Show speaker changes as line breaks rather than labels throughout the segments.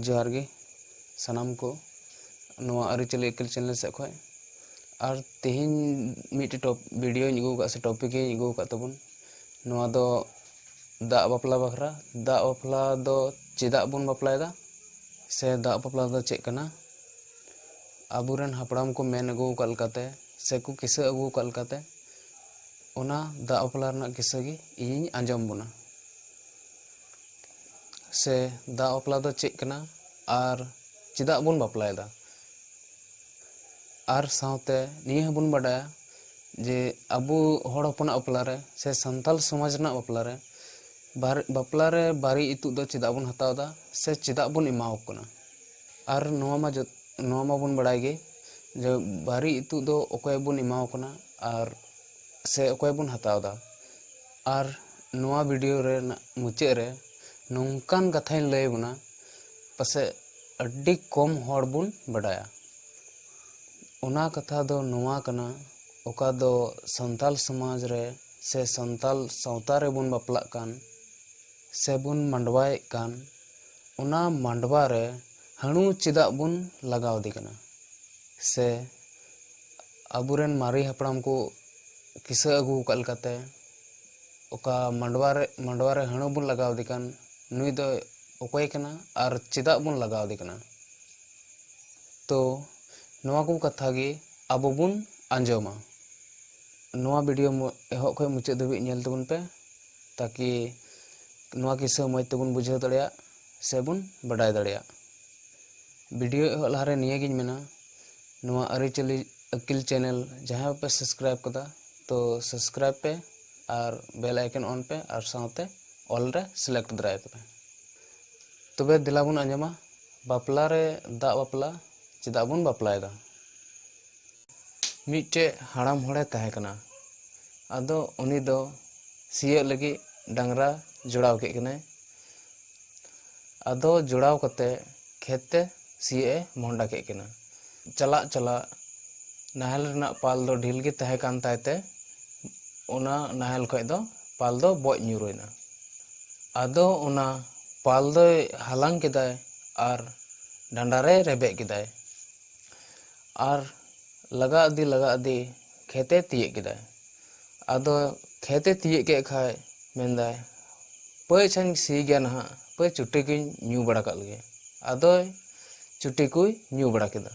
ᱡᱚᱦᱟᱨ ᱜᱮ ᱥᱟᱱᱟᱢ ᱠᱚ ᱱᱚᱣᱟ ᱟᱹᱨᱤᱪᱟᱹᱞᱤ ᱮᱠᱮᱞ ᱪᱮᱱᱮᱞ ᱥᱮᱫ ᱠᱷᱚᱱ ᱟᱨ ᱛᱮᱦᱮᱧ ᱢᱤᱫᱴᱮᱡ ᱴᱚᱯ ᱵᱷᱤᱰᱤᱭᱳᱧ ᱟᱹᱜᱩ ᱟᱠᱟᱫ ᱥᱮ ᱴᱚᱯᱤᱠᱤᱧ ᱟᱹᱜᱩ ᱟᱠᱟᱫ ᱛᱟᱵᱚᱱ ᱱᱚᱣᱟ ᱫᱚ ᱫᱟᱜ ᱵᱟᱯᱞᱟ ᱵᱟᱠᱷᱨᱟ ᱫᱟᱜ ᱵᱟᱯᱞᱟ ᱫᱚ ᱪᱮᱫᱟᱜ ᱵᱚᱱ ᱵᱟᱯᱞᱟᱭᱮᱫᱟ ᱥᱮ ᱫᱟᱜ ᱵᱟᱯᱞᱟ ᱫᱚ ᱪᱮᱫ ᱠᱟᱱᱟ ᱟᱵᱚᱨᱮᱱ ᱦᱟᱯᱲᱟᱢ ᱠᱚ ᱢᱮᱱ ᱟᱹᱜᱩ ᱟᱠᱟᱫ ᱞᱮᱠᱟᱛᱮ ᱥᱮᱠᱚ ᱠᱤᱥᱟᱹ ᱟᱹᱜᱩ ᱟᱠᱟᱫ ᱞᱮᱠᱟᱛᱮ ᱚᱱᱟ ᱫᱟᱜ ᱵᱟᱯᱞᱟ ᱨᱮᱱᱟᱜ ᱠᱤᱥᱟᱹ ᱜᱮ ᱤᱧᱤᱧ ᱟᱸᱡᱚᱢ ᱵᱚᱱᱟ ᱥᱮ ᱫᱟᱜ ᱵᱟᱯᱞᱟ ᱫᱚ ᱪᱮᱫ ᱠᱟᱱᱟ ᱟᱨ ᱪᱮᱫᱟᱜ ᱵᱚᱱ ᱵᱟᱯᱞᱟᱭᱮᱫᱟ ᱟᱨ ᱥᱟᱶᱛᱮ ᱱᱤᱭᱟᱹ ᱦᱚᱸᱵᱚᱱ ᱵᱟᱰᱟᱭᱟ ᱡᱮ ᱟᱵᱚ ᱦᱚᱲ ᱦᱚᱯᱚᱱᱟᱜ ᱵᱟᱯᱞᱟ ᱨᱮ ᱥᱮ ᱥᱟᱱᱛᱟᱲ ᱥᱚᱢᱟᱡᱽ ᱨᱮᱱᱟᱜ ᱵᱟᱯᱞᱟ ᱨᱮ ᱵᱟᱨ ᱵᱟᱯᱞᱟ ᱨᱮ ᱵᱟᱨᱮ ᱤᱛᱩᱫ ᱫᱚ ᱪᱮᱫᱟᱜ ᱵᱚᱱ ᱦᱟᱛᱟᱣ ᱮᱫᱟ ᱥᱮ ᱪᱮᱫᱟᱜ ᱵᱚᱱ ᱮᱢᱟ ᱠᱚ ᱠᱟᱱᱟ ᱟᱨ ᱱᱚᱣᱟ ᱢᱟ ᱡᱚᱛᱚ ᱱᱚᱣᱟ ᱢᱟᱵᱚᱱ ᱵᱟᱲᱟᱭ ᱜᱮ ᱡᱮ ᱵᱟᱨᱮ ᱤᱛᱩᱫ ᱫᱚ ᱚᱠᱚᱭ ᱵᱚᱱ ᱮᱢᱟ ᱠᱚ ᱠᱟᱱᱟ ᱟᱨ ᱥᱮ ᱚᱠᱚᱭ ᱵᱚᱱ ᱦᱟᱛᱟᱣ ᱮᱫᱟ ᱟᱨ ᱱᱚᱣᱟ ᱵᱷᱤᱰᱤᱭᱳ ᱨᱮᱱᱟᱜ ᱢᱩᱪᱟᱹᱫ ᱨᱮ ᱱᱚᱝᱠᱟᱱ ᱠᱟᱛᱷᱟᱧ ᱞᱟᱹᱭ ᱟᱵᱚᱱᱟ ᱯᱟᱥᱮᱡ ᱟᱹᱰᱤ ᱠᱚᱢ ᱦᱚᱲ ᱵᱚᱱ ᱵᱟᱰᱟᱭᱟ ᱚᱱᱟ ᱠᱟᱛᱷᱟ ᱫᱚ ᱱᱚᱣᱟ ᱠᱟᱱᱟ ᱚᱠᱟ ᱫᱚ ᱥᱟᱱᱛᱟᱞ ᱥᱚᱢᱟᱡᱽ ᱨᱮ ᱥᱮ ᱥᱟᱱᱛᱟᱞ ᱥᱟᱶᱛᱟ ᱨᱮᱵᱚᱱ ᱵᱟᱯᱞᱟᱜ ᱠᱟᱱ ᱥᱮᱵᱚᱱ ᱢᱟᱰᱣᱟᱭᱮᱫ ᱠᱟᱱ ᱚᱱᱟ ᱢᱟᱰᱣᱟ ᱨᱮ ᱦᱟᱺᱬᱩ ᱪᱮᱫᱟᱜ ᱵᱚᱱ ᱞᱟᱜᱟᱣ ᱟᱫᱮ ᱠᱟᱱᱟ ᱥᱮ ᱟᱵᱚ ᱨᱮᱱ ᱢᱟᱨᱮ ᱦᱟᱯᱲᱟᱢ ᱠᱚ ᱠᱤᱥᱟᱹ ᱟᱹᱜᱩ ᱟᱠᱟᱫ ᱞᱮᱠᱟᱛᱮ ᱚᱠᱟ ᱢᱟᱰᱣᱟ ᱨᱮ ᱢᱟᱰᱣᱟ ᱨᱮ ᱦᱟᱹᱬᱩ ᱵᱚᱱ ᱞᱟᱜᱟᱣ ᱟᱫᱮ ᱠᱟᱱ ᱱᱩᱭ ᱫᱚ ᱚᱠᱚᱭ ᱠᱟᱱᱟ ᱟᱨ ᱪᱮᱫᱟᱜ ᱵᱚᱱ ᱞᱟᱜᱟᱣ ᱟᱫᱮ ᱠᱟᱱᱟ ᱛᱚ ᱱᱚᱣᱟ ᱠᱚ ᱠᱟᱛᱷᱟ ᱜᱮ ᱟᱵᱚ ᱵᱚᱱ ᱟᱸᱡᱚᱢᱟ ᱱᱚᱣᱟ ᱵᱷᱤᱰᱤᱭᱳ ᱮᱦᱚᱵ ᱠᱷᱚᱱ ᱢᱩᱪᱟᱹᱫ ᱫᱷᱟᱹᱵᱤᱡ ᱧᱮᱞ ᱛᱟᱵᱚᱱ ᱯᱮ ᱛᱟᱠᱤ ᱱᱚᱣᱟ ᱠᱤᱥᱟᱹ ᱢᱚᱡᱽ ᱛᱮᱵᱚᱱ ᱵᱩᱡᱷᱟᱹᱣ ᱫᱟᱲᱮᱭᱟᱜ ᱥᱮᱵᱚᱱ ᱵᱟᱰᱟᱭ ᱫᱟᱲᱮᱭᱟᱜ ᱵᱷᱤᱰᱤᱭᱳ ᱮᱦᱚᱵ ᱞᱟᱦᱟᱨᱮ ᱱᱤᱭᱟᱹᱜᱤᱧ ᱢᱮᱱᱟ ᱱᱚᱣᱟ ᱟᱹᱨᱤᱪᱟᱹᱞᱤ ᱟᱹᱠᱤᱞ ᱪᱮᱱᱮᱞ ᱡᱟᱦᱟᱸᱭ ᱯᱮ ᱥᱟᱵᱥᱠᱨᱟᱭᱤᱵ ᱠᱟᱫᱟ ᱛᱚ ᱥᱟᱵᱥᱠᱨᱟᱭᱤᱵ ᱯᱮ ᱟᱨ ᱵᱮᱞ ᱟᱭᱠᱚᱱ ᱚᱱ ᱯᱮ ᱟᱨ ᱥᱟᱶᱛᱮ ᱚᱞ ᱨᱮ ᱥᱤᱞᱮᱠᱴ ᱫᱟᱨᱟᱭ ᱯᱮ ᱛᱚᱵᱮ ᱫᱮᱞᱟ ᱵᱚᱱ ᱟᱸᱡᱚᱢᱟ ᱵᱟᱯᱞᱟ ᱨᱮ ᱫᱟᱜ ᱵᱟᱯᱞᱟ ᱪᱮᱫᱟᱜ ᱵᱚᱱ ᱵᱟᱯᱞᱟᱭᱮᱫᱟ ᱢᱤᱫᱴᱮᱡ ᱦᱟᱲᱟᱢ ᱦᱚᱲᱮ ᱛᱟᱦᱮᱸ ᱠᱟᱱᱟ ᱟᱫᱚ ᱩᱱᱤ ᱫᱚ ᱥᱤᱭᱳᱜ ᱞᱟᱹᱜᱤᱫ ᱰᱟᱝᱨᱟ ᱡᱚᱲᱟᱣ ᱠᱮᱫ ᱠᱤᱱᱟᱹᱭ ᱟᱫᱚ ᱡᱚᱲᱟᱣ ᱠᱟᱛᱮ ᱠᱷᱮᱛ ᱛᱮ ᱥᱤᱭᱚᱜ ᱮ ᱢᱚᱦᱰᱟ ᱠᱮᱫ ᱠᱤᱱᱟ᱾ ᱪᱟᱞᱟᱜ ᱪᱟᱞᱟᱜ ᱱᱟᱦᱮᱞ ᱨᱮᱱᱟᱜ ᱯᱟᱞ ᱫᱚ ᱰᱷᱤᱞ ᱜᱮ ᱛᱟᱦᱮᱸ ᱠᱟᱱ ᱛᱟᱭ ᱛᱮ ᱚᱱᱟ ᱱᱟᱦᱮᱞ ᱠᱷᱚᱡ ᱫᱚ ᱯᱟᱞ ᱫᱚ ᱵᱚᱡ ᱧᱩᱨ ᱮᱱᱟ᱾ ᱟᱫᱚ ᱚᱱᱟ ᱯᱟᱞ ᱫᱚᱭ ᱦᱟᱞᱟᱝ ᱠᱮᱫᱟᱭ ᱟᱨ ᱰᱟᱸᱰᱟ ᱨᱮ ᱨᱮᱵᱮᱫ ᱠᱮᱫᱟᱭ᱾ ᱟᱨ ᱞᱟᱜᱟ ᱤᱫᱤ ᱞᱟᱜᱟ ᱤᱫᱤ ᱠᱷᱮᱛ ᱮ ᱛᱤᱭᱟᱹᱜ ᱠᱮᱫᱟᱭ᱾ ᱟᱫᱚ ᱠᱷᱮᱛᱮ ᱛᱤᱭᱟᱹᱜ ᱠᱮᱫ ᱠᱷᱟᱡ ᱢᱮᱱᱫᱟᱭ ᱯᱟᱹᱭ ᱟᱪᱪᱷᱟᱧ ᱥᱤ ᱜᱮᱭᱟ ᱱᱟᱦᱟᱜ ᱯᱟᱹᱭ ᱪᱩᱴᱤ ᱠᱚᱧ ᱧᱩ ᱵᱟᱲᱟ ᱠᱟᱜ ᱞᱮᱜᱮ ᱟᱫᱚᱭ ᱪᱩᱴᱤ ᱠᱚᱭ ᱧᱩ ᱵᱟᱲᱟ ᱠᱮᱫᱟ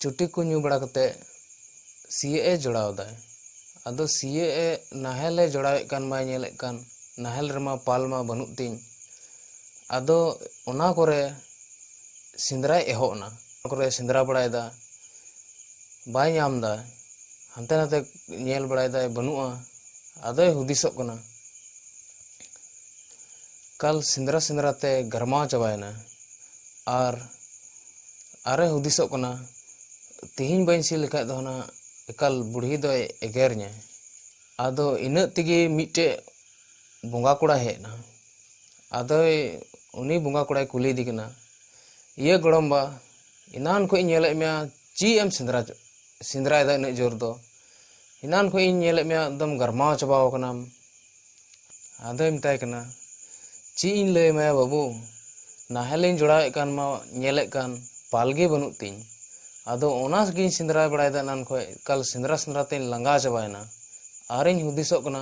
ᱪᱩᱴᱤ ᱠᱚ ᱧᱩ ᱵᱟᱲᱟ ᱠᱟᱛᱮ ᱥᱤᱭᱟᱹᱜ ᱮ ᱡᱚᱲᱟᱣ ᱮᱫᱟᱭ ᱟᱫᱚ ᱥᱤᱭᱟᱹᱜ ᱮ ᱱᱟᱦᱮᱞ ᱮ ᱡᱚᱲᱟᱣᱮᱫ ᱠᱟᱱ ᱵᱟᱭ ᱧᱮᱞᱮᱫ ᱠᱟᱱ ᱱᱟᱦᱮᱞ ᱨᱮᱢᱟ ᱯᱟᱞ ᱢᱟ ᱵᱟᱹᱱᱩᱜ ᱛᱤᱧ ᱟᱫᱚ ᱚᱱᱟ ᱠᱚᱨᱮ ᱥᱮᱸᱫᱽᱨᱟᱭ ᱮᱦᱚᱵ ᱮᱱᱟ ᱚᱱᱟ ᱠᱚᱨᱮ ᱥᱮᱸᱫᱽᱨᱟ ᱵᱟᱲᱟᱭᱮᱫᱟ ᱵᱟᱭ ᱧᱟᱢ ᱮᱫᱟ ᱦᱟᱱᱛᱮ ᱱᱟᱛᱮ ᱧᱮᱞ ᱵᱟᱲᱟᱭᱮᱫᱟᱭ ᱵᱟᱹᱱᱩᱜᱼᱟ ᱟᱫᱚᱭ ᱦᱩᱫᱤᱥᱚᱜ ᱠᱟᱱᱟ ᱠᱟᱞ ᱥᱮᱸᱫᱽᱨᱟ ᱥᱮᱸᱫᱽᱨᱟ ᱛᱮ ᱜᱟᱨᱢᱟᱣ ᱪᱟᱵᱟᱭᱮᱱᱟ ᱟᱨ ᱟᱨᱮ ᱦᱩᱫᱤᱥᱚᱜ ᱠᱟᱱᱟ ᱛᱤᱦᱤᱧ ᱵᱟᱹᱧ ᱥᱤ ᱞᱮᱠᱷᱟᱡ ᱫᱚ ᱦᱟᱱᱟ ᱮᱠᱟᱞ ᱵᱩᱲᱦᱤ ᱫᱚᱭ ᱮᱜᱮᱨᱤᱧᱟ ᱟᱫᱚ ᱤᱱᱟᱹᱜ ᱛᱮᱜᱮ ᱢᱤᱫᱴᱮᱡ ᱵᱚᱸᱜᱟ ᱠᱚᱲᱟᱭ ᱦᱮᱡ ᱮᱱᱟ ᱟᱫᱚᱭ ᱩᱱᱤ ᱵᱚᱸᱜᱟ ᱠᱚᱲᱟᱭ ᱠᱩᱞᱤ ᱤᱫᱤ ᱠᱟᱱᱟ ᱤᱭᱟᱹ ᱜᱚᱲᱚᱢ ᱵᱟ ᱮᱱᱟᱱ ᱠᱷᱚᱡ ᱤᱧ ᱧᱮᱞᱮᱫ ᱢᱮᱭᱟ ᱪᱮᱫ ᱮᱢ ᱥᱮᱸᱫᱽᱨᱟ ᱥᱮᱸᱫᱽᱨᱟᱭᱮᱫᱟ ᱩᱱᱟᱹᱜ ᱡᱳᱨ ᱫᱚ ᱮᱱᱟᱱ ᱠᱷᱚᱡ ᱤᱧ ᱧᱮᱞᱮᱫ ᱢᱮᱭᱟ ᱮᱠᱫᱚᱢ ᱜᱟᱨᱢᱟᱣ ᱪᱟᱵᱟᱣ ᱠᱟᱱᱟᱢ ᱟᱫᱚᱭ ᱢᱮᱛᱟᱭ ᱠᱟᱱᱟ ᱪᱮᱫ ᱤᱧ ᱞᱟᱹᱭ ᱟᱢᱟᱭᱟ ᱵᱟᱹᱵᱩ ᱱᱟᱦᱮᱞᱤᱧ ᱡᱚᱲᱟᱣᱮᱫ ᱠᱟᱱ ᱢᱟ ᱧᱮᱞᱮᱫ ᱠᱟᱱ ᱯᱟᱞ ᱜᱮ ᱵᱟᱹᱱᱩᱜ ᱛᱤᱧ ᱟᱫᱚ ᱚᱱᱟ ᱜᱤᱧ ᱥᱮᱸᱫᱽᱨᱟ ᱵᱟᱲᱟᱭᱮᱫᱟ ᱮᱱᱟᱱ ᱠᱷᱚᱡ ᱮᱠᱟᱞ ᱥᱮᱸᱫᱽᱨᱟ ᱥᱮᱸᱫᱽᱨᱟ ᱛᱤᱧ ᱞᱟᱸᱜᱟ ᱪᱟᱵᱟᱭᱮᱱᱟ ᱟᱨᱤᱧ ᱦᱩᱫᱤᱥᱚᱜ ᱠᱟᱱᱟ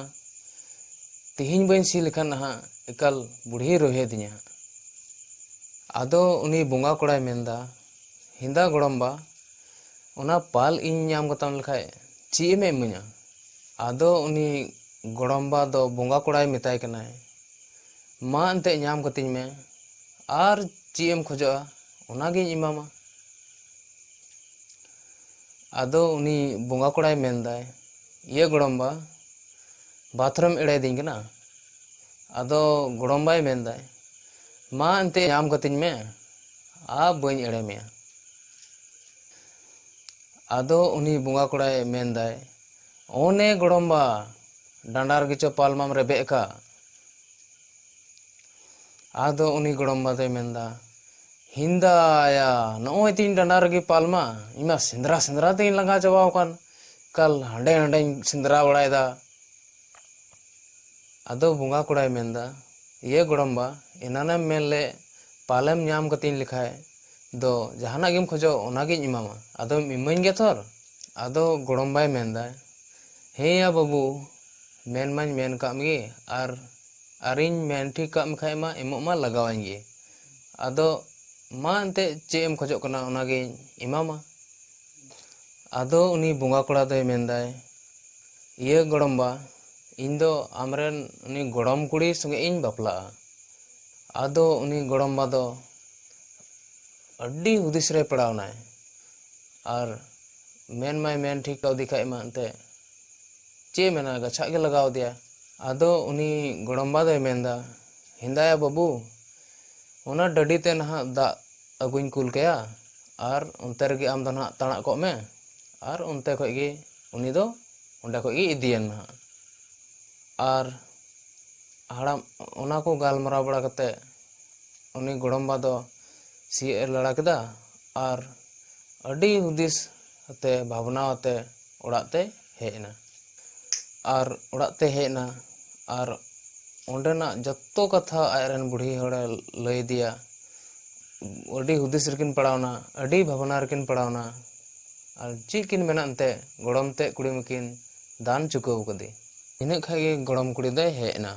ᱛᱤᱦᱤᱧ ᱵᱟᱹᱧ ᱥᱤ ᱞᱮᱠᱷᱟᱱ ᱱᱟᱦᱟᱜ ᱮᱠᱟᱞ ᱵᱩᱲᱦᱤᱭ ᱨᱚᱦᱮᱫᱤᱧᱟ ᱦᱟᱸᱜ᱾ ᱟᱫᱚ ᱩᱱᱤ ᱵᱚᱸᱜᱟ ᱠᱚᱲᱟᱭ ᱢᱮᱱᱫᱟ, ᱦᱮᱸᱫᱟ ᱜᱚᱲᱚᱢᱵᱟ, ᱚᱱᱟ ᱯᱟᱞ ᱤᱧ ᱧᱟᱢ ᱠᱟᱛᱟᱢ ᱞᱮᱠᱷᱟᱡ ᱪᱮᱫ ᱮᱢ ᱤᱢᱟᱹᱧᱟ? ᱟᱫᱚ ᱩᱱᱤ ᱜᱚᱲᱚᱢᱵᱟ ᱫᱚ ᱵᱚᱸᱜᱟ ᱠᱚᱲᱟᱭ ᱢᱮᱛᱟᱭ ᱠᱟᱱᱟᱭ, ᱢᱟ ᱮᱱᱛᱮ ᱧᱟᱢ ᱠᱟᱹᱛᱤᱧ ᱢᱮ, ᱟᱨ ᱪᱮᱫ ᱮᱢ ᱠᱷᱚᱡᱚᱜᱼᱟ ᱚᱱᱟ ᱜᱤᱧ ᱮᱢᱟᱢᱟ᱾ ᱟᱫᱚ ᱩᱱᱤ ᱵᱚᱸᱜᱟ ᱠᱚᱲᱟᱭ ᱢᱮᱱᱫᱟᱭ, ᱤᱭᱟᱹ ᱜᱚᱲᱚᱢ ᱵᱟ ᱵᱟᱛᱷᱨᱩᱢ ᱮᱲᱮᱭᱮᱫᱤᱧ ᱠᱟᱱᱟ ᱟᱫᱚ ᱜᱚᱲᱚᱢ ᱵᱟᱭ ᱢᱮᱱᱫᱟᱭ ᱢᱟ ᱮᱱᱛᱮ ᱧᱟᱢ ᱠᱟᱹᱛᱤᱧ ᱢᱮ ᱟᱨ ᱵᱟᱹᱧ ᱮᱲᱮ ᱢᱮᱭᱟ ᱟᱫᱚ ᱩᱱᱤ ᱵᱚᱸᱜᱟ ᱠᱚᱲᱟᱭ ᱢᱮᱱᱫᱟᱭ ᱚᱱᱮ ᱜᱚᱲᱚᱢ ᱵᱟ ᱰᱟᱸᱰᱟ ᱨᱮᱜᱮ ᱪᱚ ᱯᱟᱞᱢᱟᱢ ᱨᱮᱵᱮᱫ ᱟᱠᱟᱫ ᱟᱫᱚ ᱩᱱᱤ ᱜᱚᱲᱚᱢ ᱵᱟ ᱫᱚᱭ ᱢᱮᱱᱫᱟ ᱦᱤᱱᱫᱟᱭᱟ ᱱᱚᱜᱼᱚᱭ ᱛᱤᱧ ᱰᱟᱸᱰᱟ ᱨᱮᱜᱮ ᱯᱟᱞᱢᱟ ᱤᱧ ᱢᱟ ᱥᱮᱸᱫᱽᱨᱟ ᱥᱮᱸᱫᱽᱨᱟ ᱛᱮᱜᱮᱧ ᱞᱟᱸᱜᱟ ᱪᱟᱵᱟᱣ ᱟᱠᱟᱱ ᱠᱟᱞ ᱦᱟᱸᱰᱮ ᱱᱟᱸᱰᱮᱧ ᱥᱮᱸᱫᱽᱨᱟ ᱵᱟᱲᱟᱭᱮᱫᱟ ᱟᱫᱚ ᱵᱚᱸᱜᱟ ᱠᱚᱲᱟᱭ ᱢᱮᱱᱫᱟ ᱤᱭᱟᱹ ᱜᱚᱲᱚᱢᱵᱟ ᱮᱱᱟᱱᱮᱢ ᱢᱮᱱ ᱞᱮᱫ ᱯᱟᱞᱮᱢ ᱧᱟᱢ ᱠᱟᱛᱤᱧ ᱞᱮᱠᱷᱟᱡ ᱫᱚ ᱡᱟᱦᱟᱱᱟᱜ ᱜᱮᱢ ᱠᱷᱚᱡᱚᱜ ᱚᱱᱟᱜᱤᱧ ᱮᱢᱟᱢᱟ ᱟᱫᱚᱢ ᱤᱢᱟᱹᱧ ᱜᱮᱭᱟ ᱛᱷᱚᱨ ᱟᱫᱚ ᱜᱚᱲᱚᱢᱵᱟᱭ ᱢᱮᱱᱫᱟ ᱦᱮᱸᱭᱟ ᱵᱟᱹᱵᱩ ᱢᱮᱱ ᱢᱟᱧ ᱢᱮᱱ ᱠᱟᱜ ᱢᱮᱜᱮ ᱟᱨ ᱟᱨᱤᱧ ᱢᱮᱱ ᱴᱷᱤᱠ ᱠᱟᱜ ᱢᱮᱠᱷᱟᱡ ᱢᱟ ᱮᱢᱚᱜ ᱢᱟ ᱞᱟᱜᱟᱣᱟᱹᱧ ᱜᱮ ᱟᱫᱚ ᱢᱟ ᱮᱱᱛᱮᱫ ᱪᱮᱫ ᱮᱢ ᱠᱷᱚᱡᱚᱜ ᱠᱟᱱᱟ ᱚᱱᱟᱜᱤᱧ ᱮᱢᱟᱢᱟ ᱟᱫᱚ ᱩᱱᱤ ᱵᱚᱸᱜᱟ ᱠᱚᱲᱟ ᱫᱚᱭ ᱢᱮᱱᱫᱟᱭ ᱤᱭᱟᱹ ᱜᱚᱲᱚᱢ ᱵᱟ ᱤᱧ ᱫᱚ ᱟᱢᱨᱮᱱ ᱩᱱᱤ ᱜᱚᱲᱚᱢ ᱠᱩᱲᱤ ᱥᱚᱸᱜᱮ ᱤᱧ ᱵᱟᱯᱞᱟᱜᱼᱟ ᱟᱫᱚ ᱩᱱᱤ ᱜᱚᱲᱚᱢ ᱵᱟ ᱫᱚ ᱟᱹᱰᱤ ᱦᱩᱫᱤᱥ ᱨᱮᱭ ᱯᱟᱲᱟᱣ ᱮᱱᱟᱭ ᱟᱨ ᱢᱮᱱ ᱢᱟᱭ ᱢᱮᱱ ᱴᱷᱤᱠ ᱠᱟᱣᱫᱮ ᱠᱷᱟᱱ ᱢᱟ ᱮᱱᱛᱮᱫ ᱪᱮᱫ ᱮ ᱢᱮᱱᱟ ᱜᱟᱪᱷᱟᱜ ᱜᱮ ᱞᱟᱜᱟᱣ ᱟᱫᱮᱭᱟ ᱟᱫᱚ ᱩᱱᱤ ᱜᱚᱲᱚᱢ ᱵᱟ ᱫᱚᱭ ᱢᱮᱱᱫᱟ ᱦᱮᱸᱫᱟᱭᱟ ᱵᱟᱹᱵᱩ ᱚᱱᱟ ᱰᱟᱹᱰᱤ ᱛᱮ ᱱᱟᱦᱟᱜ ᱫᱟᱜ ᱟᱹᱜᱩᱧ ᱠᱩᱞ ᱠᱟᱭᱟ ᱟᱨ ᱚᱱᱛᱮ ᱨᱮᱜᱮ ᱟᱢ ᱫᱚ ᱱᱟᱦᱟᱜ ᱛᱟᱬᱟᱜ ᱠᱚᱜ ᱢᱮ ᱟᱨ ᱚᱱᱛᱮ ᱠᱷᱚᱡ ᱜᱮ ᱩᱱᱤ ᱫᱚ ᱚᱸᱰᱮ ᱠᱷᱚᱡ ᱜᱮ ᱤᱫᱤᱭᱮᱢ ᱱᱟᱦᱟᱜ ᱟᱨ ᱦᱟᱲᱟᱢ ᱚᱱᱟ ᱠᱚ ᱜᱟᱞᱢᱟᱨᱟᱣ ᱵᱟᱲᱟ ᱠᱟᱛᱮ ᱩᱱᱤ ᱜᱚᱲᱚᱢᱵᱟ ᱫᱚ ᱥᱤᱭᱳᱜ ᱮ ᱞᱟᱲᱟ ᱠᱮᱫᱟ ᱟᱨ ᱟᱹᱰᱤ ᱦᱩᱫᱤᱥ ᱟᱛᱮ ᱵᱷᱟᱵᱽᱱᱟ ᱟᱛᱮ ᱚᱲᱟᱜ ᱛᱮᱭ ᱦᱮᱡ ᱮᱱᱟ ᱟᱨ ᱚᱲᱟᱜ ᱛᱮ ᱦᱮᱡ ᱮᱱᱟ ᱟᱨ ᱚᱸᱰᱮᱱᱟᱜ ᱡᱚᱛᱚ ᱠᱟᱛᱷᱟ ᱟᱡ ᱨᱮᱱ ᱵᱩᱲᱦᱤ ᱦᱚᱲᱮ ᱞᱟᱹᱭ ᱟᱫᱮᱭᱟ ᱟᱹᱰᱤ ᱦᱩᱫᱤᱥ ᱨᱮᱠᱤᱱ ᱯᱟᱲᱟᱣᱱᱟ ᱟᱹᱰᱤ ᱵᱷᱟᱵᱽᱱᱟ ᱨᱮᱠᱤᱱ ᱯᱟᱲᱟᱣᱱᱟ ᱟᱨ ᱪᱮᱫ ᱠᱤᱱ ᱢᱮᱱᱟ ᱮᱱᱛᱮᱫ ᱜᱚᱲᱚᱢ ᱛᱮᱫ ᱠᱩᱲᱤ ᱢᱟᱠᱤᱱ ᱫᱟᱱ ᱪᱩᱠᱟᱹᱣ ᱠᱟᱫᱮ ᱤᱱᱟᱹᱜ ᱠᱷᱟᱱ ᱜᱮ ᱜᱚᱲᱚᱢ ᱠᱩᱲᱤ ᱫᱚᱭ ᱦᱮᱡ ᱮᱱᱟ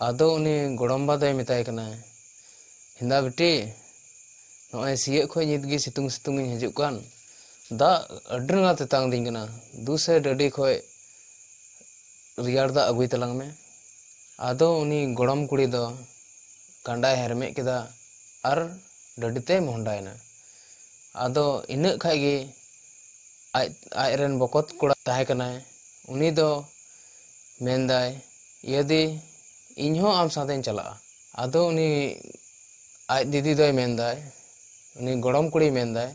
ᱟᱫᱚ ᱩᱱᱤ ᱜᱚᱲᱚᱢ ᱵᱟ ᱫᱚᱭ ᱢᱮᱛᱟᱭ ᱠᱟᱱᱟ ᱦᱮᱸᱫᱟ ᱵᱤᱴᱤ ᱱᱚᱜᱼᱚᱭ ᱥᱤᱭᱟᱹᱜ ᱠᱷᱚᱱ ᱱᱤᱛ ᱜᱮ ᱥᱤᱛᱩᱝ ᱥᱤᱛᱩᱝ ᱤᱧ ᱦᱤᱡᱩᱜ ᱠᱟᱱ ᱫᱟᱜ ᱟᱹᱰᱤ ᱨᱟᱸᱜᱟᱣ ᱛᱮᱛᱟᱝ ᱤᱫᱤᱧ ᱠᱟᱱᱟ ᱫᱩ ᱥᱮ ᱰᱟᱹᱰᱤ ᱠᱷᱚᱡ ᱨᱮᱭᱟᱲ ᱫᱟᱜ ᱟᱹᱜᱩᱭ ᱛᱟᱞᱟᱝ ᱢᱮ ᱟᱫᱚ ᱩᱱᱤ ᱜᱚᱲᱚᱢ ᱠᱩᱲᱤ ᱫᱚ ᱠᱟᱸᱰᱟᱭ ᱦᱮᱨᱢᱮᱫ ᱠᱮᱫᱟ ᱟᱨ ᱰᱟᱹᱰᱤ ᱛᱮᱭ ᱢᱚᱦᱰᱟᱭᱮᱱᱟ ᱟᱫᱚ ᱤᱱᱟᱹᱜ ᱠᱷᱟᱡ ᱜᱮ ᱟᱡ ᱟᱡ ᱨᱮᱱ ᱵᱚᱠᱚᱛ ᱠᱚᱲᱟ ᱛᱟᱦᱮᱸ ᱠᱟᱱᱟᱭ ᱩᱱᱤ ᱫᱚ ᱢᱮᱱᱫᱟᱭ ᱤᱭᱟᱹᱫᱤ ᱤᱧ ᱦᱚᱸ ᱟᱢ ᱥᱟᱶᱛᱮᱧ ᱪᱟᱞᱟᱜᱼᱟ ᱟᱫᱚ ᱩᱱᱤ ᱟᱡ ᱫᱤᱫᱤ ᱫᱚᱭ ᱢᱮᱱᱫᱟᱭ ᱩᱱᱤ ᱜᱚᱲᱚᱢ ᱠᱩᱲᱤᱭ ᱢᱮᱱᱫᱟᱭ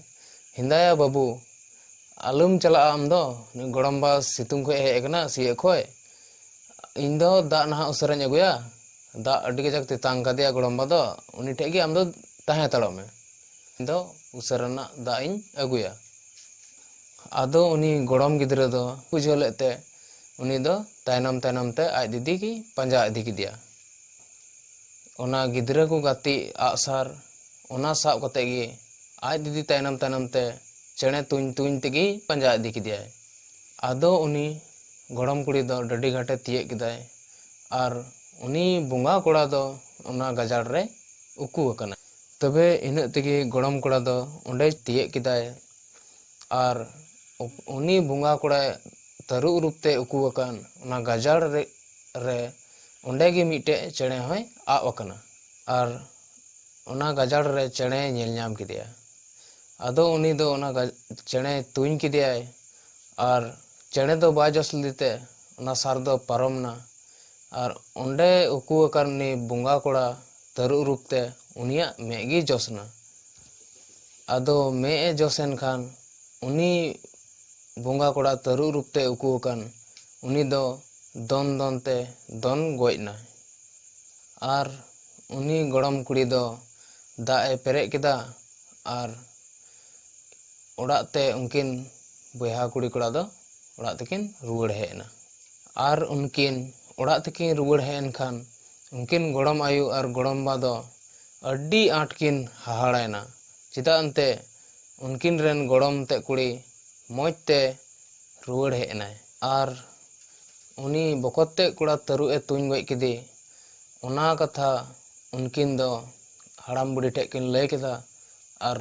ᱦᱮᱸᱫᱟᱭᱟ ᱵᱟᱹᱵᱩ, ᱟᱞᱚᱢ ᱪᱟᱞᱟᱜᱼᱟ ᱟᱢ ᱫᱚ᱾ ᱱᱩᱭ ᱜᱚᱲᱚᱢ ᱵᱟ ᱥᱤᱛᱩᱝ ᱠᱷᱚᱡ ᱮ ᱦᱮᱡ ᱟᱠᱟᱱᱟ ᱥᱤᱭᱟᱹᱜ ᱠᱷᱚᱡ᱾ ᱤᱧ ᱫᱚ ᱫᱟᱜ ᱱᱟᱦᱟᱜ ᱩᱥᱟᱹᱨᱟᱧ ᱟᱹᱜᱩᱭᱟ᱾ ᱫᱟᱜ ᱟᱹᱰᱤ ᱠᱟᱡᱟᱠ ᱛᱮᱛᱟᱝ ᱟᱠᱟᱫᱮᱭᱟ ᱜᱚᱲᱚᱢ ᱵᱟ ᱫᱚ᱾ ᱩᱱᱤ ᱴᱷᱮᱡ ᱜᱮ ᱟᱢ ᱫᱚ ᱛᱟᱦᱮᱸ ᱦᱟᱛᱟᱲᱚᱜ ᱢᱮ᱾ ᱤᱧ ᱫᱚ ᱩᱥᱟᱹᱨᱟ ᱱᱟᱜ ᱫᱟᱜ ᱤᱧ ᱟᱹᱜᱩᱭᱟ᱾ ᱟᱫᱚ ᱩᱱᱤ ᱜᱚᱲᱚᱢ ᱜᱤᱫᱽᱨᱟᱹ ᱫᱚ ᱵᱩᱡᱷᱟᱹᱣ ᱞᱮᱫ ᱛᱮ ᱩᱱᱤ ᱫᱚ ᱛᱟᱭᱱᱚᱢ ᱛᱟᱭᱱᱚᱢ ᱛᱮ ᱟᱡ ᱫᱤᱫᱤ ᱜᱮᱭ ᱯᱟᱸᱡᱟ ᱤᱫᱤ ᱠᱮᱫᱮᱭᱟ᱾ ᱚᱱᱟ ᱜᱤᱫᱽᱨᱟᱹ ᱠᱚ ᱜᱟᱛᱮᱜ ᱟᱜᱼᱥᱟᱨ ᱚᱱᱟ ᱥᱟᱵ ᱠᱟᱛᱮ ᱜᱮ ᱟᱡ ᱫᱤᱫᱤ ᱛᱟᱭᱱᱚᱢ ᱛᱟᱭᱱᱚᱢ ᱛᱮ ᱪᱮᱬᱮ ᱛᱩᱧ ᱛᱩᱧ ᱛᱮᱜᱮ ᱯᱟᱸᱡᱟ ᱤᱫᱤ ᱠᱮᱫᱮᱭᱟᱭ ᱟᱫᱚ ᱩᱱᱤ ᱜᱚᱲᱚᱢ ᱠᱩᱲᱤ ᱫᱚ ᱰᱟᱹᱰᱤ ᱜᱷᱟᱴᱮ ᱛᱤᱭᱟᱹᱜ ᱠᱮᱫᱟᱭ ᱟᱨ ᱩᱱᱤ ᱵᱚᱸᱜᱟ ᱠᱚᱲᱟ ᱫᱚ ᱚᱱᱟ ᱜᱟᱡᱟᱲ ᱨᱮ ᱩᱠᱩ ᱟᱠᱟᱱᱟᱭ ᱛᱚᱵᱮ ᱤᱱᱟᱹᱜ ᱛᱮᱜᱮ ᱜᱚᱲᱚᱢ ᱠᱚᱲᱟ ᱫᱚ ᱚᱸᱰᱮᱭ ᱛᱤᱭᱟᱹᱜ ᱠᱮᱫᱟᱭ ᱟᱨ ᱩᱱᱤ ᱵᱚᱸᱜᱟ ᱠᱚᱲᱟᱭ ᱛᱟᱹᱨᱩᱵ ᱨᱩᱯ ᱛᱮ ᱩᱠᱩ ᱟᱠᱟᱱ ᱚᱱᱟ ᱜᱟᱡᱟᱲ ᱨᱮ ᱨᱮ ᱚᱱᱰᱮ ᱜᱮ ᱢᱤᱫᱴᱮᱡ ᱪᱮᱬᱮ ᱦᱚᱸᱭ ᱟᱵ ᱟᱠᱟᱱᱟ ᱟᱨ ᱚᱱᱟ ᱜᱟᱡᱟᱲ ᱨᱮ ᱪᱮᱬᱮ ᱧᱮᱞ ᱧᱟᱢ ᱠᱮᱫᱮᱭᱟ ᱟᱫᱚ ᱩᱱᱤ ᱫᱚ ᱚᱱᱟ ᱪᱮᱬᱮ ᱛᱩᱧ ᱠᱮᱫᱮᱭᱟᱭ ᱟᱨ ᱪᱮᱬᱮ ᱫᱚ ᱵᱟᱭ ᱡᱚᱥ ᱞᱮᱫᱮ ᱛᱮ ᱚᱱᱟ ᱥᱟᱨ ᱫᱚ ᱯᱟᱨᱚᱢ ᱮᱱᱟ ᱟᱨ ᱚᱱᱰᱮ ᱩᱠᱩ ᱟᱠᱟᱱ ᱩᱱᱤ ᱵᱚᱸᱜᱟ ᱠᱚᱲᱟ ᱛᱟᱹᱨᱩᱵ ᱨᱩᱯ ᱛᱮ ᱩᱱᱤᱭᱟᱜ ᱢᱮᱫ ᱜᱮ ᱡᱚᱥ ᱮᱱᱟ ᱟᱫᱚ ᱢᱮᱫ ᱮ ᱡᱚᱥ ᱮᱱ ᱠᱷᱟᱱ ᱩᱱᱤ ᱵᱚᱸᱜᱟ ᱠᱚᱲᱟ ᱛᱟᱹᱨᱩᱵ ᱨᱩᱯ ᱛᱮ ᱩᱠᱩ ᱟᱠᱟᱱ ᱩᱱᱤ ᱫᱚ ᱫᱚᱱ ᱫᱚᱱ ᱛᱮ ᱫᱚᱱ ᱜᱚᱡ ᱱᱟᱭ᱾ ᱟᱨ ᱩᱱᱤ ᱜᱚᱲᱚᱢ ᱠᱩᱲᱤ ᱫᱚ ᱫᱟᱜ ᱮ ᱯᱮᱨᱮᱡ ᱠᱮᱫᱟ ᱟᱨ ᱚᱲᱟᱜ ᱛᱮ ᱩᱱᱠᱤᱱ ᱵᱚᱭᱦᱟ ᱠᱩᱲᱤ ᱠᱚᱲᱟ ᱫᱚ ᱚᱲᱟᱜ ᱛᱮᱠᱤᱱ ᱨᱩᱣᱟᱹᱲ ᱦᱮᱡ ᱮᱱᱟ᱾ ᱟᱨ ᱩᱱᱠᱤᱱ ᱚᱲᱟᱜ ᱛᱮᱠᱤᱱ ᱨᱩᱣᱟᱹᱲ ᱦᱮᱡ ᱮᱱ ᱠᱷᱟᱱ ᱩᱱᱠᱤᱱ ᱜᱚᱲᱚᱢ ᱟᱭᱳ ᱟᱨ ᱜᱚᱲᱚᱢ ᱵᱟ ᱫᱚ ᱟᱹᱰᱤ ᱟᱸᱴ ᱠᱤᱱ ᱦᱟᱦᱟᱲᱟ ᱮᱱᱟ ᱪᱮᱫᱟᱜ ᱮᱱᱛᱮ ᱩᱱᱠᱤᱱ ᱨᱮᱱ ᱜᱚᱲᱚᱢ ᱛᱮᱫ ᱠᱩᱲᱤ ᱢᱚᱡᱽ ᱛᱮ ᱨᱩᱣᱟᱹᱲ ᱦᱮᱡ ᱮᱱᱟᱭ ᱟᱨ ᱩᱱᱤ ᱵᱚᱠᱚᱛ ᱛᱮᱫ ᱠᱚᱲᱟ ᱛᱟᱹᱨᱩᱵ ᱮ ᱛᱩᱧ ᱜᱚᱡ ᱠᱮᱫᱮ ᱚᱱᱟ ᱠᱟᱛᱷᱟ ᱩᱱᱠᱤᱱ ᱫᱚ ᱦᱟᱲᱟᱢ ᱵᱩᱰᱷᱤ ᱴᱷᱮᱱ ᱠᱤᱱ ᱞᱟᱹᱭ ᱠᱮᱫᱟ ᱟᱨ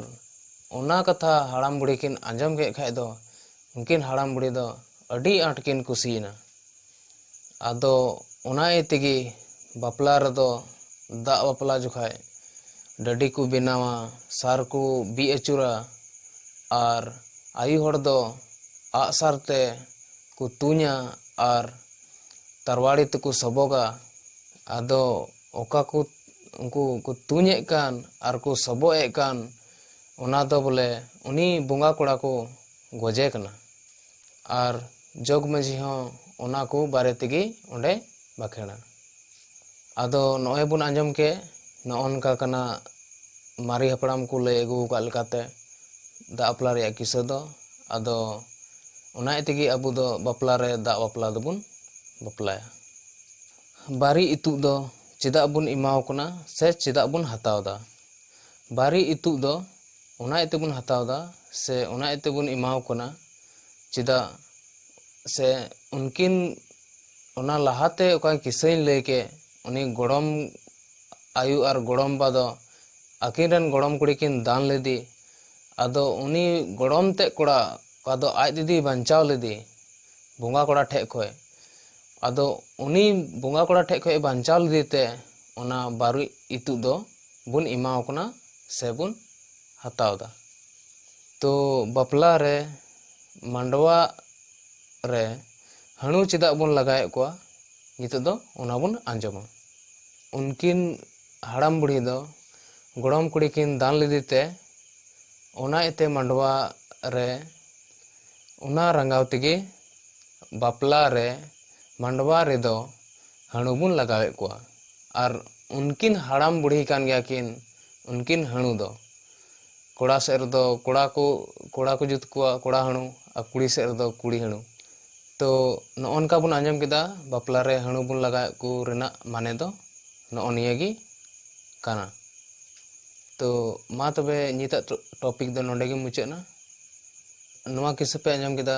ᱚᱱᱟ ᱠᱟᱛᱷᱟ ᱦᱟᱲᱟᱢ ᱵᱩᱰᱷᱤ ᱠᱤᱱ ᱟᱸᱡᱚᱢ ᱠᱮᱫ ᱠᱷᱟᱱ ᱫᱚ ᱩᱱᱠᱤᱱ ᱦᱟᱲᱟᱢ ᱵᱩᱰᱷᱤ ᱫᱚ ᱟᱹᱰᱤ ᱟᱸᱴ ᱠᱤᱱ ᱠᱩᱥᱤᱭᱮᱱᱟ ᱟᱫᱚ ᱚᱱᱟ ᱤᱭᱟᱹ ᱛᱮᱜᱮ ᱵᱟᱯᱞᱟ ᱨᱮᱫᱚ ᱫᱟᱜ ᱵᱟᱯᱞᱟ ᱡᱚᱠᱷᱟᱡ ᱰᱟᱹᱰᱤ ᱠᱚ ᱵᱮᱱᱟᱣᱟ ᱥᱟᱨ ᱠᱚ ᱵᱤᱫ ᱟᱹᱪᱩᱨᱟ ᱟᱨ ᱟᱭᱳ ᱦᱚᱲ ᱫᱚ ᱟᱸᱜ ᱥᱟᱨ ᱛᱮ ᱠᱚ ᱛᱩᱧᱟ ᱟᱨ ᱛᱟᱨᱣᱟᱲᱤ ᱛᱮᱠᱚ ᱥᱚᱵᱚᱜᱟ ᱟᱫᱚ ᱚᱠᱟ ᱠᱚ ᱩᱱᱠᱩ ᱠᱚ ᱛᱩᱧ ᱮᱫ ᱠᱟᱱ ᱟᱨ ᱠᱚ ᱥᱚᱵᱚᱜ ᱮᱫ ᱠᱟᱱ ᱚᱱᱟ ᱫᱚ ᱵᱚᱞᱮ ᱩᱱᱤ ᱵᱚᱸᱜᱟ ᱠᱚᱲᱟ ᱠᱚ ᱜᱚᱡᱮ ᱠᱟᱱᱟ ᱟᱨ ᱡᱚᱜᱽ ᱢᱟᱹᱡᱷᱤ ᱦᱚᱸ ᱚᱱᱟ ᱠᱚ ᱵᱟᱨᱮ ᱛᱮᱜᱮ ᱚᱸᱰᱮ ᱵᱟᱠᱷᱮᱲᱟ ᱟᱫᱚ ᱱᱚᱜᱼᱚᱭ ᱵᱚᱱ ᱟᱸᱡᱚᱢ ᱠᱮᱫ ᱱᱚᱜᱼᱚ ᱱᱚᱝᱠᱟ ᱠᱟᱱᱟ ᱢᱟᱨᱮ ᱦᱟᱯᱲᱟᱢ ᱠᱚ ᱞᱟᱹᱭ ᱟᱹᱜᱩ ᱟᱠᱟᱫ ᱞᱮᱠᱟᱛᱮ ᱫᱟᱜ ᱵᱟᱯᱞᱟ ᱨᱮᱭᱟᱜ ᱠᱤᱥᱟᱹ ᱫᱚ ᱟᱫᱚ ᱚᱱᱟ ᱛᱮᱜᱮ ᱟᱵᱚ ᱫᱚ ᱵᱟᱯᱞᱟ ᱨᱮ ᱫᱟᱜ ᱵᱟᱯᱞᱟ ᱫᱚᱵᱚᱱ ᱵᱟᱯᱞᱟᱭᱟ ᱵᱟᱨᱮ ᱤᱛᱩᱫ ᱫᱚ ᱪᱮᱫᱟᱜ ᱵᱚᱱ ᱮᱢᱟᱣ ᱠᱚ ᱠᱟᱱᱟ ᱥᱮ ᱪᱮᱫᱟᱜ ᱵᱚᱱ ᱦᱟᱛᱟᱣ ᱮᱫᱟ ᱵᱟᱨᱮ ᱤᱛᱩᱫ ᱫᱚ ᱚᱱᱟ ᱤᱭᱟᱹ ᱛᱮᱵᱚᱱ ᱦᱟᱛᱟᱣ ᱮᱫᱟ ᱥᱮ ᱚᱱᱟ ᱤᱭᱟᱹ ᱛᱮᱵᱚᱱ ᱮᱢᱟ ᱠᱚ ᱠᱟᱱᱟ ᱪᱮᱫᱟᱜ ᱥᱮ ᱩᱱᱠᱤᱱ ᱚᱱᱟ ᱞᱟᱦᱟᱛᱮ ᱚᱠᱟ ᱠᱤᱥᱟᱹᱧ ᱞᱟᱹᱭ ᱠᱮᱫ ᱩᱱᱤ ᱜᱚᱲᱚᱢ ᱟᱭᱳ ᱟᱨ ᱜᱚᱲᱚᱢ ᱵᱟ ᱫᱚ ᱟᱹᱠᱤᱱ ᱨᱮᱱ ᱜᱚᱲᱚᱢ ᱠᱩᱲᱤ ᱠᱤᱱ ᱫᱟᱱ ᱞᱮᱫᱮ ᱟᱫᱚ ᱩᱱᱤ ᱜᱚᱲᱚᱢ ᱛᱮᱫ ᱠᱚᱲᱟ ᱚᱠᱟ ᱫᱚ ᱟᱡ ᱫᱤᱫᱤᱭ ᱵᱟᱧᱪᱟᱣ ᱞᱮᱫᱮ ᱵᱚᱸᱜᱟ ᱠᱚᱲᱟ ᱴᱷᱮᱱ ᱠᱷᱚᱱ ᱟᱫᱚ ᱩᱱᱤ ᱵᱚᱸᱜᱟ ᱠᱚᱲᱟ ᱴᱷᱮᱱ ᱠᱷᱚᱱ ᱵᱟᱧᱪᱟᱣ ᱞᱮᱫᱮ ᱛᱮ ᱚᱱᱟ ᱵᱟᱨᱚ ᱤᱛᱩᱫ ᱫᱚ ᱵᱚᱱ ᱮᱢᱟᱣ ᱠᱟᱱᱟ ᱥᱮ ᱵᱚᱱ ᱦᱟᱛᱟᱣ ᱮᱫᱟ ᱛᱚ ᱵᱟᱯᱞᱟ ᱨᱮ ᱢᱟᱸᱰᱣᱟ ᱨᱮ ᱦᱟᱹᱬᱩ ᱪᱮᱫᱟᱜ ᱵᱚᱱ ᱞᱟᱜᱟᱣᱮᱫ ᱠᱚᱣᱟ ᱱᱤᱛᱚᱜ ᱫᱚ ᱚᱱᱟ ᱵᱚᱱ ᱟᱸᱡᱚᱢᱟ ᱩᱱᱠᱤᱱ ᱦᱟᱲᱟᱢ ᱵᱩᱲᱦᱤ ᱫᱚ ᱜᱚᱲᱚᱢ ᱠᱩᱲᱤ ᱠᱤᱱ ᱫᱟᱱ ᱞᱮᱫᱮ ᱛᱮ ᱚᱱᱟ ᱤᱭᱟᱹᱛᱮ ᱢᱟᱸᱰᱣᱟ ᱨᱮ ᱚᱱᱟ ᱨᱟᱸᱜᱟᱣ ᱛᱮᱜᱮ ᱵᱟᱯᱞᱟ ᱨᱮ ᱢᱟᱸᱰᱣᱟ ᱨᱮᱫᱚ ᱦᱟᱹᱬᱩ ᱵᱚᱱ ᱞᱟᱜᱟᱣᱮᱫ ᱠᱚᱣᱟ ᱟᱨ ᱩᱱᱠᱤᱱ ᱦᱟᱲᱟᱢ ᱵᱩᱲᱦᱤ ᱠᱟᱱ ᱜᱮᱭᱟ ᱠᱤᱱ ᱩᱱᱠᱤᱱ ᱦᱟᱹᱬᱩ ᱫᱚ ᱠᱚᱲᱟ ᱥᱮᱫ ᱨᱮᱫᱚ ᱠᱚᱲᱟ ᱠᱚ ᱠᱚᱲᱟ ᱠᱚ ᱡᱩᱛ ᱠᱚᱣᱟ ᱠᱚᱲᱟ ᱦᱟᱹᱬᱩ ᱟᱨ ᱠᱩᱲᱤ ᱥᱮᱫ ᱨᱮᱫᱚ ᱠᱩᱲᱤ ᱦᱟᱹᱬᱩ ᱛᱚ ᱱᱚᱜᱼᱚ ᱱᱚᱝᱠᱟ ᱵᱚᱱ ᱟᱸᱡᱚᱢ ᱠᱮᱫᱟ ᱵᱟᱯᱞᱟ ᱨᱮ ᱦᱟᱹᱬᱩ ᱵᱚᱱ ᱞᱟᱜᱟᱣᱮᱫ ᱠᱚ ᱨᱮᱱᱟᱜ ᱢᱟᱱᱮ ᱫᱚ ᱱᱚᱜᱼᱚ ᱱᱤᱭᱟᱹ ᱜᱮ ᱠᱟᱱᱟ ᱛᱚ ᱢᱟ ᱛᱚᱵᱮ ᱱᱤᱛᱟᱜ ᱴᱚᱯᱤᱠ ᱫᱚ ᱱᱚᱰᱮ ᱜᱮ ᱢᱩᱪᱟᱹᱫ ᱮᱱᱟ ᱱᱚᱣᱟ ᱠᱤᱥᱟᱹ ᱯᱮ ᱟᱸᱡᱚᱢ ᱠᱮᱫᱟ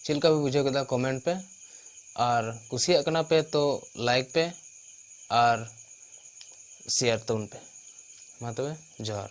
ᱪᱮᱫ ᱞᱮᱠᱟ ᱯᱮ ᱵᱩᱡᱷᱟᱹᱣ ᱠᱮᱫᱟ ᱠᱚᱢᱮᱱᱴ ᱯᱮ ᱟᱨ ᱠᱩᱥᱤᱭᱟᱜ ᱠᱟᱱᱟ ᱯᱮ ᱛᱚ ᱞᱟᱭᱤᱠ ᱯᱮ ᱟᱨ ᱥᱮᱭᱟᱨ ᱛᱟᱵᱚᱱ ᱯᱮ ᱢᱟ ᱛᱚᱵᱮ ᱡᱚᱦᱟᱨ